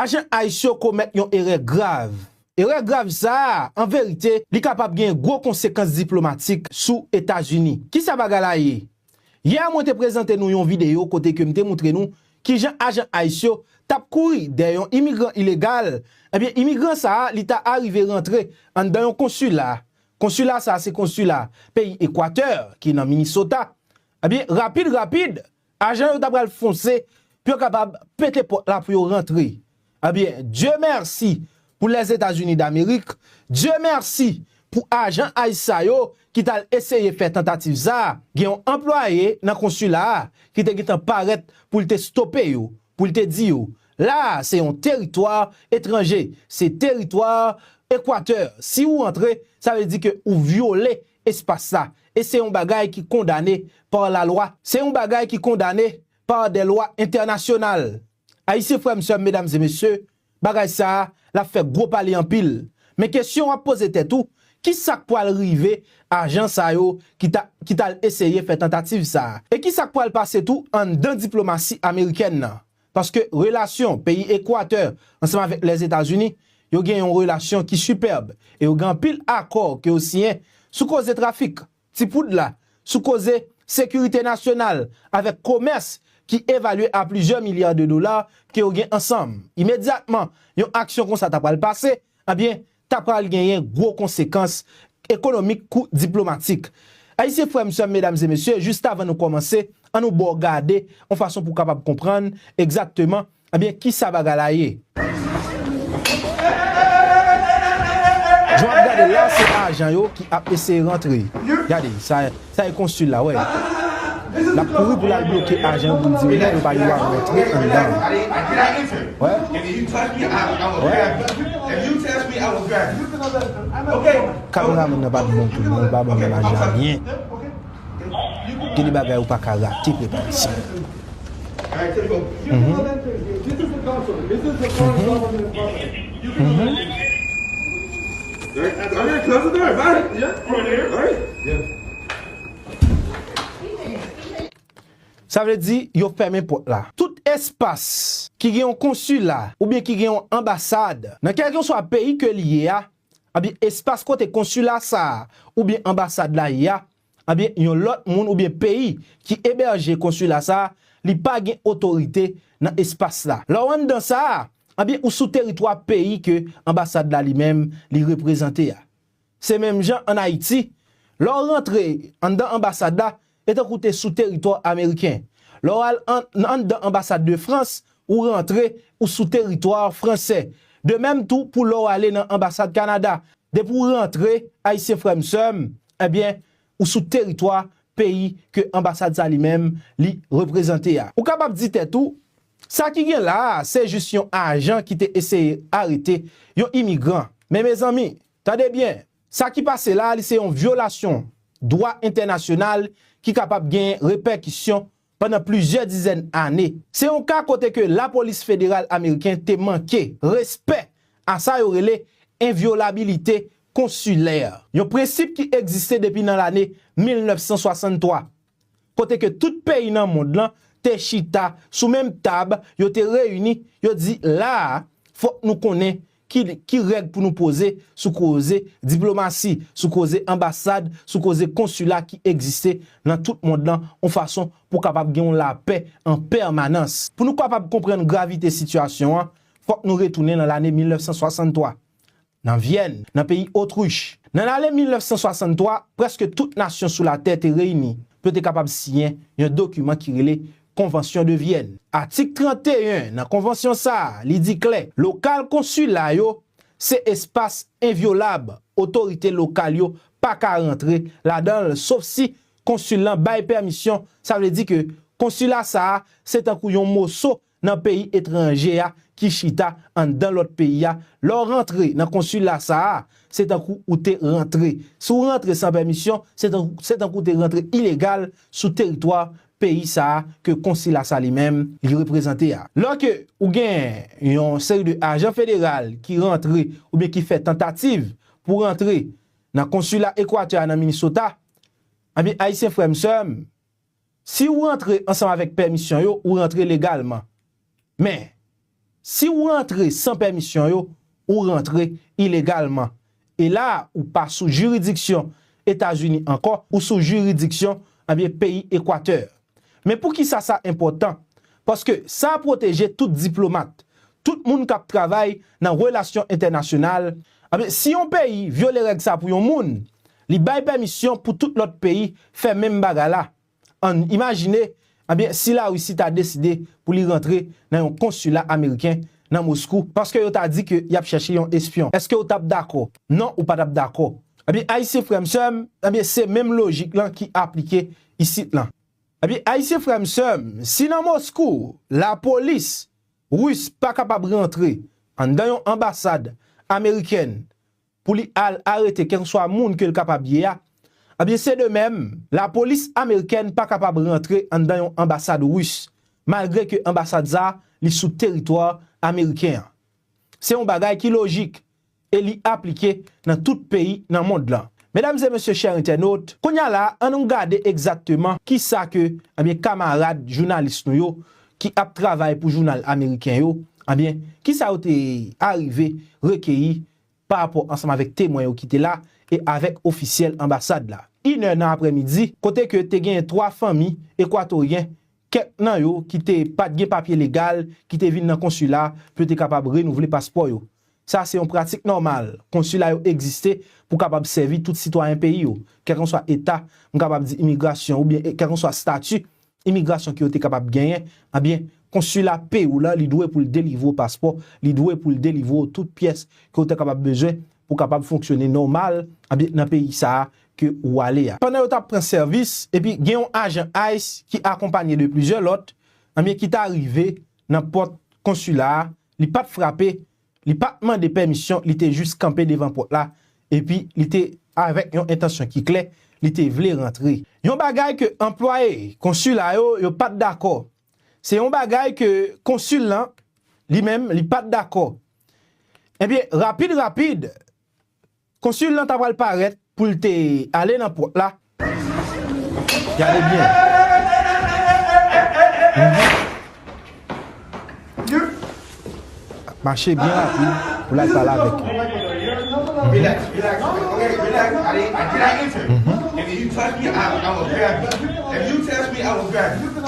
Ajan ice yo komèt yon erè grav. Erè grav sa a, an verite, li kapab gen gwo konsekans diplomatik sou Etazini. Ki sa bagay la ye? Yè a mwen te prezante nou yon videyo kote ke m te moutre nou ki jan ajan ice yo t ap kouri dèyè yon imigran ilegal, ebyen imigran sa a li ta arive rantre anndan yon konsila, konsila sa a se konsila peyi Ekwatè ki nan Minnesota, ebyen rapid rapid Ajan yo ta pral fonse pou yo kapab pete pòt la pou yo rantre. Ebyen, Dye mèsi pou Lèzetazini Damerik, Dye mèsi pou ajan ice sa yo ki t al eseye fè tantativ sa a, gen yon anplwaye nan konsila a ki te gentan parèt pou l te stope yo, pou l te di yo, la a se yon teritwa etranje, se teritwa Equateur, si ou rantre, sa vle di ke ou vyole espas sa, e se yon bagay ki kondane pa la lwa, se yon bagay ki kondane pa dè lwa entènasyonal. Ayisyen frè m, sè m, medam e mesye, bagay sa a, l ap fè gwo pale anpil. Men kesyon w ap poze tèt ou, ki sa k pwal rive ajan sa yo ki ta, ki t al eseye fè tantativ sa a? E ki sa k pwal pase tou anndan diplomasi amerikèn nan? Paske relasyon peyi Ekwatè ansanm avèk Lèzetazini, yo gen yon relasyon ki sipèb e yo gen anpil akò ke yo siyen sou koze trafik ti poud la, sou koze sekirite nasyonal avèk komès ki evalye a plizyè milya de dola ke yo gen ansanm. Imedyatman yon aksyon konsa ta pral pase, ebyen, ta pral genyen gwo konsekans ekonomik kou diplomatik. Ayisyen frè m sè m medam e mesye jistavan nou kòmanse an nou baw gade yon fason pou kapab konprann egzakteman ebyen kisa bagay la ye. Jan wap gade la se ajan yo ki ap eseye rantre gade sa. Sa e consul la wè lap kouri pou lal bloke ajan yo poul di yo non yo pa dwa rantre anndan wè. Kameraman nan pat bon tou non li pa banm imaj la byen gen de bagay ou paka rate preparation humm humm. Sa vle di yo fèmen pòt la. Tout espas ki gen yon konsila oubyen ki gen yon anbasad nan kèlkenswa peyi ke li ye a, anbyen espas kote konsila sa a oubyen anbasad la ye a, Ebyen yon lòt moun oubyen peyi ki ebèje konsila sa a, li pa gen otorite nan espas la. Lè w anndan sa a, ebyen ou sou teritwa peyi ke anbasad la li menm li reprezante a. Se menm jan an Ayiti, lè w rantre anndan anbasad la, e tankou w te sou teritò ameriken. Lè w al anndan anbasad de Frans, ou rantre, ou sou teritwa fransè. De menm tou pou lè w ale nan anbasad Kanada, depi w rantre, Ayisyen frè m sè m, Ebyen ou sou teritwa peyi ke anbasad sa li menm li reprezante a. Ou kapab di tèt ou, sa ki gen la a se jis yon ajan ki te eseye arete yon imigran. Men mezanmi, tande byen, sa ki pase la a li se yon vyolasyon dwa entènasyonal ki kapab gen repèkisyon pandan plizyè dizèn ane. Se yon ka kote ke lapolis federal ameriken te manke respè a sa yo rele envyolabilite konsilè, yon prensip ki egziste depi nan lane 1963, kote ke tout peyi nan mond lan te chita sou menm tab, yo te reyini, yo di la a fòk nou konnen Ki règ pou nou poze sou koze diplomasi, sou koze anbasad, sou koze konsila ki egziste nan tout mond lan yon fason pou kapab gen yon lapè an pèmanans? Pou nou kapab konprann gravite sitiyasyon an, fòk nou retounen nan lane 1963, nan Vyèn, nan peyi Otrich. Nan lane 1963, prèske tout nasyon sou latè te reyini pou yo te kapab siyen yon dokiman ki rele Konvansyon de Vyèn. Atik 31 nan konvansyon sa a, li di klè, lokal konsila yo se espas envyolab, otorite lokal yo pa ka rantre ladan l sof si konsil lan bay pèmisyon, sa vle di ke konsila sa a se tankou yon moso nan peyi etranje a ki chita anndan lòt peyi a, lè w rantre nan konsila sa a, se tankou ou te rantre, si w rantre san pèmisyon, se tankou w te rantre ilegal sou teritwa peyi sa a ke konsila sa li menm li reprezante a. Lò ke ou gen yon seri de ajan federal ki rantre oubyen ki fè tantativ pou rantre nan konsila Equateur a nan Minnesota, enben Ayisyen frè m sè m, si ou rantre ansanm avèk pèmisyon yo, ou rantre legalman. Men, si ou rantre san pèmisyon yo, ou rantre ilegalman. E la a, ou pa sou jiridiksyon Etazini ankò, ou sou jiridiksyon, ebyen, peyi Ekwatè. Men pou ki sa sa enpòtan? Paske sa pwoteje tout diplomat, tout moun k ap travay nan relasyon entènasyonal, ebyen, si yon peyi vyole règ sa pou yon moun, li bay pèmisyon pou tout lòt peyi fè menm bagay la. Ann imajine, ebyen, si Larisi ta deside pou li rantre nan yon konsila ameriken nan Moskou paske yo ta di ke y ap chèche yon espyon. Èske ou t ap dakò? Non, ou pa t ap dakò. Ebyen, Ayisyen frè m sè m, ebyen, se menm lojik lan ki aplike isit lan. Ebyen, Ayisyen frè m sè m, si nan Moskou, lapolis Ris pa kapab rantre anndan yon anbasad amerikèn pou li al arete kèlkeswa moun ke l kapab ye a, ebyen se de mèm, lapolis amerikèn pa kapab rantre anndan yon anbasad ris, malgre ke anbasad sa a li sou teritwa ameriken an. Se yon bagay ki lojik e li aplike nan tout peyi nan mond lan. Medam e mesye chè entènot, kounye a la a annou gade egzakteman ki sa ke ebyen kamarad jounalis nou yo ki ap travay pou jounal ameriken yo, ebyen ki sa yo te arive rekeyi pa rapò ansanm avèk temwen yo ki te la e avèk ofisyèl anbasad la. Inè nan aprè midi, kote ke te genyen 3 fanmi Ekwatoryen, kèk nan yo ki te pat gen papye legal ki te vin nan konsila pou yo te kapab renouvle paspò yo. Sa se yon pratik nòmal, konsila yo egziste pou kapab sèvi tout sitwayen peyi yo, kèlkanswa eta, m kapab di imigrasyon oubyen kèlkanswa stati imigrasyon ke yo te kapab genyen, anbyen, konsila peyi w la li dwe pou l delivre w paspò, li dwe pou l delivre w tout pyès ke w ta kapab bezwen pou kapab fonksyone nòmal, anbyen, nan peyi sa a ke ou ale a. Pandan yo t ap pran sèvis, epi gen yon ajan ice ki akonpanye de plizyè lòt, anbyen, ki ta rive nan pòt konsila a, li pa t frape, Li pa t mande pèmisyon, li te jis kanpe devan pòt la, epi li te avèk yon entansyon ki klè, li te vle rantre. Yon bagay ke anplwaye konsila yo, yo pa t dakò. Se yon bagay ke konsil lan, li menm, li pa t dakò. Ebyen, rapid rapid, Konsul lan ta pral parèt pou l te ale nan pòt la. Gade byen. Ap mache byen rapid pou l al pale avèk yo.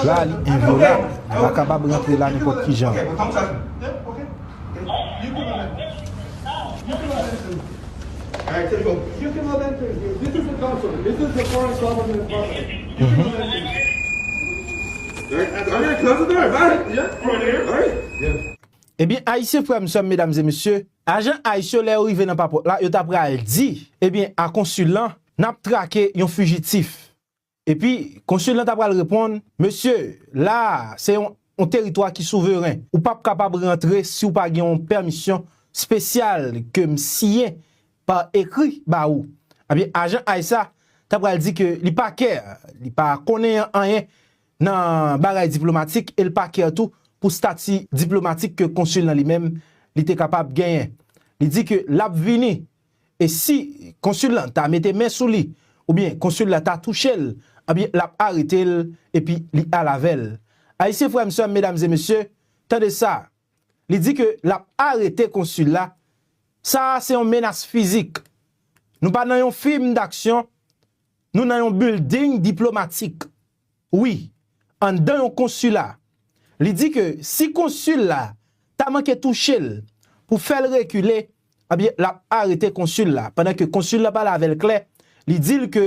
La li envyolab. Li pa kapab rantre la nenpòt ki jan. Ebyen ayisyen frèm sèm medam e mesye ajan ice yo lè yo rive nan papòt la yo ta pral di ebyen a konsil lan nap trake yon fijitif Epi, Konsil lan ta pral reponn, Mesye, la a, se yon yon teritwa ki souveren. Ou pap kapab rantre si ou pa gen yon pèmisyon spesyal ke m siyen pa ekri ba ou. Ebyen, ajan ice a ta pral di ke li pa care, li pa konneyan anyen nan bagay diplomatik e l pa care tou pou stati diplomatik ke Konsil lan li menm li te kapab genyen. Li di ke l ap vini. e si Konsil lan ta mete men sou li, oubyen Konsil la ta touche l, anbyen l ap arete l, epi li al avè l. Ayisyen frè m, sè m, medam e mesye, tande sa, li di ke l ap arete Konsil la, sa a se yon menas fizik. Nou pa nan yon fim daksyon, nou nan yon bilding diplomatik. Wi, anndan yon konsila. Li di ke si konsil la ta manke touche l pou fè l rekile, ebyen l ap arete konsil la. Pandan ke konsil la pale avè l klè, li di l ke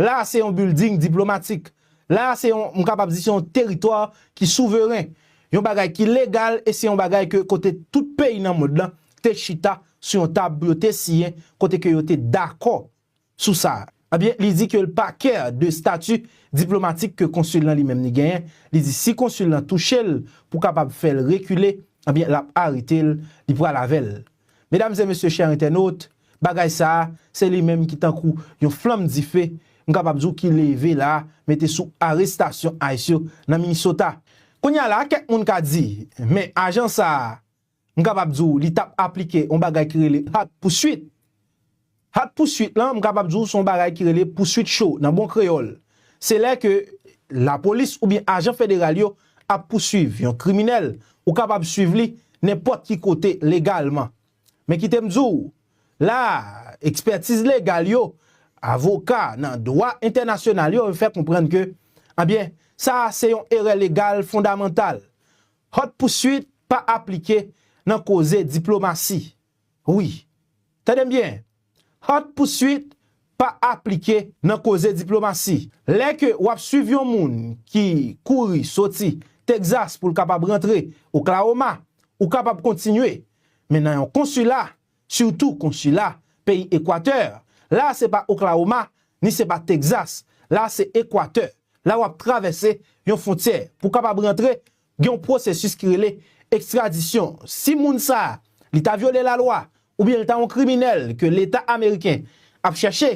la a se yon bilding diplomatik. La a se yon, m kapab di se yon teritwa ki souveren. Yon bagay ki legal e se yon bagay ke kote tout peyi nan mond lan te chita sou yon tab pou yo te siyen kote ke yo te dakò Sou sa, ebyen li di ke l pa kè de stati diplomatik ke konsil lan li menm li genyen, li di si konsil lan touche l pou kapab fè l rekile, ebyen l ap arete l, li pral avè l. Medam e mesye chè entènot, bagay sa a, se li menm ki tankou yon flanm dife, m kapab di w ki leve la mete sou arestasyon ice yo nan Minnesota. Kounya la kèk moun ka di, men ajan sa a M kapab di w li t ap aplike yon bagay ki rele haute poursuite. Haute poursuite lan, m kapab di w se yon bagay ki rele pouswit cho nan bon kreyòl. Se lè ke lapolis oubyen ajan federal yo ap pouswiv yon kriminèl, ou kapab swiv li nenpòt ki kote legalman. Men kite m di w, la a, ekspètiz legal yo, avoka nan dwa entènasyonal yo, yo fè konprann ke, anbyen, sa a se yon erè legal fondamantal. Haute poursuite pa aplike nan koze diplomasi wi. Tande m byen, haute poursuite pa aplike nan koze diplomasi. Lè ke w ap swiv yon moun ki kouri soti Texas pou l kapab rantre Oklahoma, ou kapab kontinye, men nan yon konsila, Surtout konsila peyi ekwatè la se pa Oklahoma ni se pa Texas la se ekwatè la wap travèse yon fontyè pou kapab rantre gen yon pwosesis ki rele ekstradisyon si moun sa li ta vyole la lwa oubyen li ta yon kriminèl ke leta ameriken ap chèche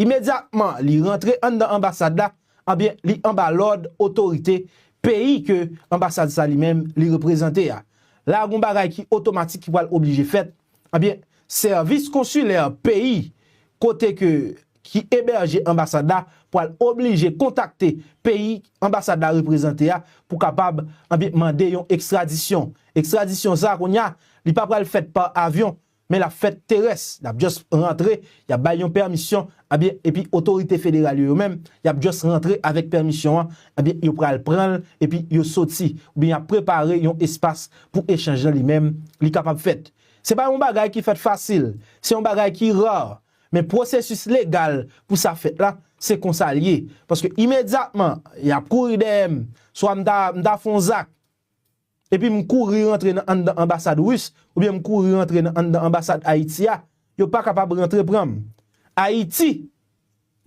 imedyatman li rantre anndan anbasad la Ebyen li anba lòd otorite peyi ke anbasad sa li menm li reprezante a. La gon bagay ki otomatik ki pral oblije fèt, ebyen sèvis konsilè peyi kote ke ki ebèje anbasad la pral oblije kontakte peyi anbasad la reprezante a pou kapab ebyen mande yon ekstradisyon. Ekstradisyon sa kounya li pa pral fèt pa avyon, Men lap fèt terès, lap just rantre, yap bay yon pèmisyon, ebyen epi otorite federal yo yo menm, yap just rantre avèk pèmisyon an, ebyen yo pral pran l epi yo soti, oubyen yap prepare yon espas pou echanj lan li menm li kapab fèt. Se pa yon bagay ki fèt fasil, se yon bagay ki rare, men pwosesis legal pou sa fèt la, se konsa l ye, paske imedyatman yap kouri dèyè m, swa m ta m ta fon zak, epi m kouri rantre nan anndan anbasad Ris oubyen m kouri rantre nan anndan anbasad Ayiti a, yo pa kapab rantre pran m. Ayiti,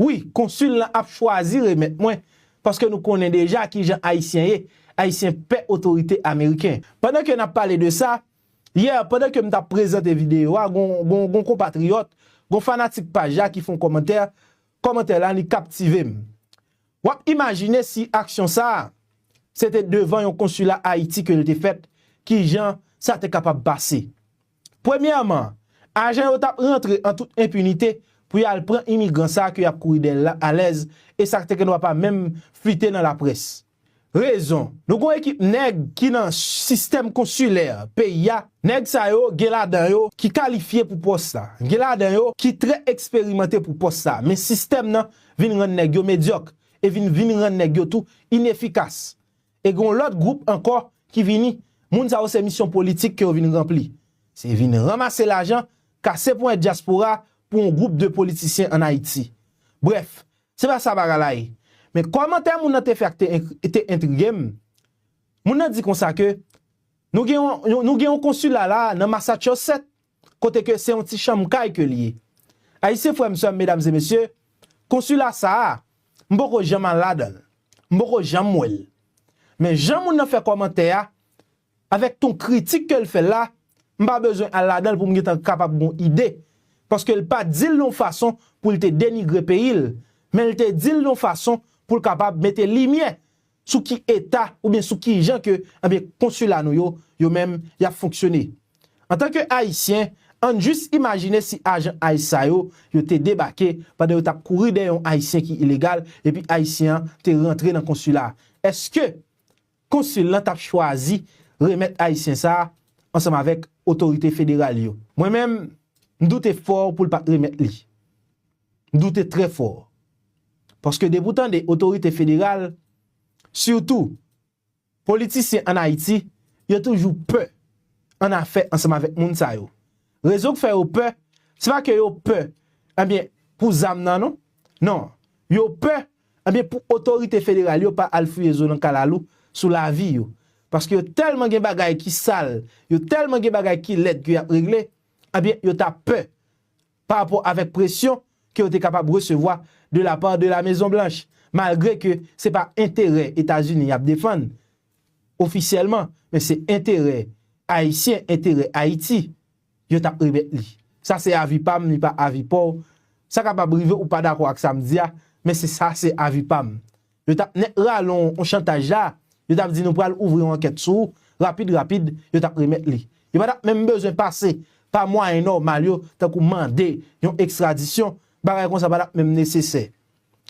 Wi, konsil lan ap chwazi remèt mwen, paske nou konnen deja ki jan Ayisyen ye, Ayisyen pè otorite Ameriken. Pandan ke n ap pale de sa, yè, pandan ke m t ap prezante videyo a, gon konpatriyòt, gon fanatik paj la ki fè yon kòmantè, kòmantè la li kaptive m. W ap imajine si aksyon sa a se te devan yon konsila Ayiti ke l te fèt, ki jan sa te kapab pase. Premyèman, ajan yo t ap rantre an tout enpinite pou y al pran imigran sa a ke y ap kouri dèyè l la alèz e sa te gendwa pa menm flite nan laprès. Rezon, Nou gon ekip nèg ki nan sistèm konsilè peyi a, nèg sa yo gen ladan yo ki kalifye pou pòs la, gen ladan yo ki trè eksperimante pou pòs sa, men sistèm nan vin rann nèg yo medyòk e vin vin rann nèg yo tou inefikas. E gon lòt gwoup ankò ki vini, moun sa yo se misyon politik ke yo vin ranpli. Se vin ranmase lajan, kase ponyèt dyaspora pou yon gwoup de politisyen an Ayiti. Brèf, Se pa sa bagay la ye. Men kòmantè moun nan te fè a te entrige m. Moun nan di konsa ke nou gen yon nou gen yon konsila la nan Massachusetts kote ke se yon ti chanm kay ke li ye. Ayisyen frè m, sè m, medam e mesye, konsila sa a, m poko janm al ladan l. M poko janm wè l. Men jan moun nan fè kòmantè a, Avèk ton kritik ke l fè la, m pa bezwen al ladan l pou m gentan kapab gon ide, paske l pa di l yon fason pou l te denigre peyi l, men l te di l yon fason pou l kapab mete limyè sou ki eta oubyen sou kijan ke ebyen konsila nou yo, yo menm y ap fonksyone. Antan ke Ayisyen, an n jis imajine si ajan ice sa yo, yo te debake pandan yo t ap kouri dèyè yon Ayisyen ki ilegal epi Ayisyen an te rantre nan konsila a, èske Konsil lan t ap chwazi remèt Ayisyen sa a ansanm avèk otorite federal yo. Mwen menm, m doute fò pou l pa t remèt li. M doute trè fò. Paske depi w tande otorite federal, sitou politisyen ann Ayiti, yo toujou pè ann afè ansanm avèk moun sa yo. Rezon k fè yo pè, se pa ke yo pè, enben, pou zam nan non. Non. Yo pè Ebyen pou otorite federal yo pa al fouye zo nan kalalou sou lavi yo. Paske yo tèlman gen bagay ki sal, yo tèlman gen bagay ki lèd ke yap regle, ebyen yo ta pè pa rapò avèk presyon ke yo te kapab resevwa de la part de la Mezon Blanch. Malgre ke se pa enterè Etazini yap defann ofisyèlman, men se enterè Ayisyen, enterè Ayiti. yo tap remèt li. Sa se avi pam li pa avi paw, sa kapab rive ou pa dakò ak sam di a, men se sa se avi pam. Yo tap nèt rale w yon chantaj la, yo tap di nou pral ouvri yon ankèt sou ou, rapid rapid yo tap remèt li. Yo pa tap menm bezwen pase pa mwayen nòmal yo tankou mande yon ekstradisyon, bagay konsa pa tap menm nesesè.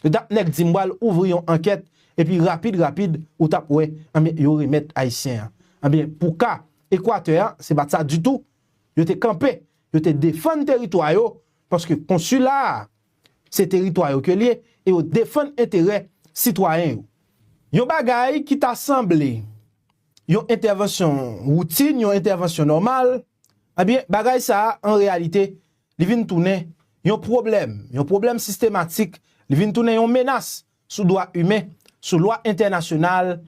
Dat nèg di m bal ouvri yon ankèt epi rapid rapid ou tap wè anben yo remèt ayisyen an anben pou ka ekwatè an se pat sa ditou yo te kanpe yo te defann teritwa yo paske konsila a se teritwa yo ke l ye e yo defann enterè sitwayen yo yon bagay ki ta sanble yon entèvansyon woutin yon entèvansyon nòmal anben bagay sa an reyalite li vin tounen yon pwoblèm, yon pwoblèm sistematik, li vin tounen yon menas sou dwa imen, sou lwa entènasyonal,